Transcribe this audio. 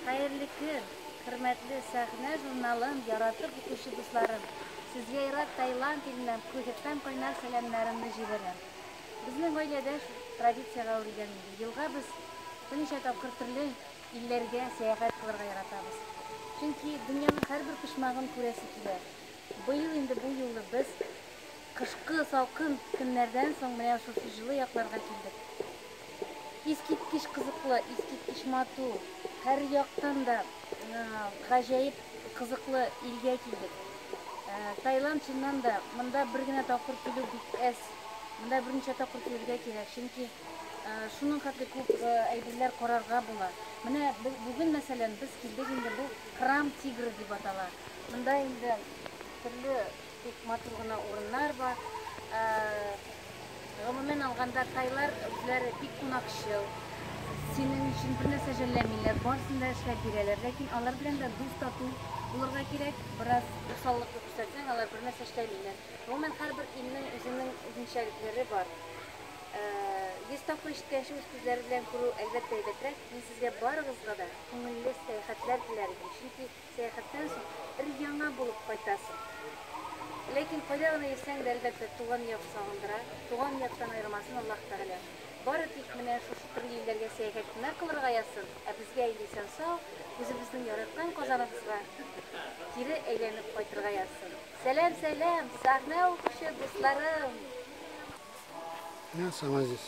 Хәерле көн, хөрмәтле Сәхнә журналын яратып укучы дусларым! Сезгә Ирак, Таиланд иленнән Пхукеттан кайнар сәламнәремне җибәрәм. Безнең гаиләдә шул традициягә әверелгән инде, елга без берничә тапкыр төрле илләргә сәяхәт кылырга яратабыз. Чөнки дөньяның һәрбер почмагын күрәсе килә. Быел инде бу юлы без. Кышкы салкын көннәрдән соң менә шушы җылы якларга килдек. Искиткеч кызыклы, искиткеч матур, һәр яктан да гаҗәеп кызыклы илгә килдек. Таиланд, чыннан да, монда бер генә тапкыр килү бик әз. Монда берничә тапкыр килергә кирәк, чөнки шуның хәтле күп әйберләр карарга була. Менә бүген, мәсәлән, без килдек инде, бу Храм тигра дип атала. Монда инде төрле Күп матур гына урыннар бар. Гомумән алганда, тайлар үзләре бик кунакчыл. Синең өчен бернәрсә жәлләмиләр, барысын да эшләп бирәләр. Ләкин алар белән дә дус тату булырга кирәк. Бераз усаллыкны күрсәтсәң, алар бернәрсә эшләмиләр. Гомумән, һәрбер илнең үзенең үзенчәлекләре бар. Йөз тапкыр ишеткәнче үз күзләре белән күрү, әлбәттә, әйбәтрәк. Мин сезгә барыгызга да күңелле сәяхәтләр теләр идем, чөнки Сәяхәттән соң өр-яңа булып кайтасың. Ләкин кайда гына йөрсәң дә, әлбәттә, туган як сагындыра. Туган яктан аермасын Аллаһ Тәгалә. Бары тик менә шушы төрле илләргә сәяхәт кенә кылырга язсын, ә безгә инде исән-сау, үзебезнең яраткан Казаныбызга кире әйләнеп кайтырга язсын. Сәлам, сәлам, сәхнә укучы дусларым! Менә соң, Азиз,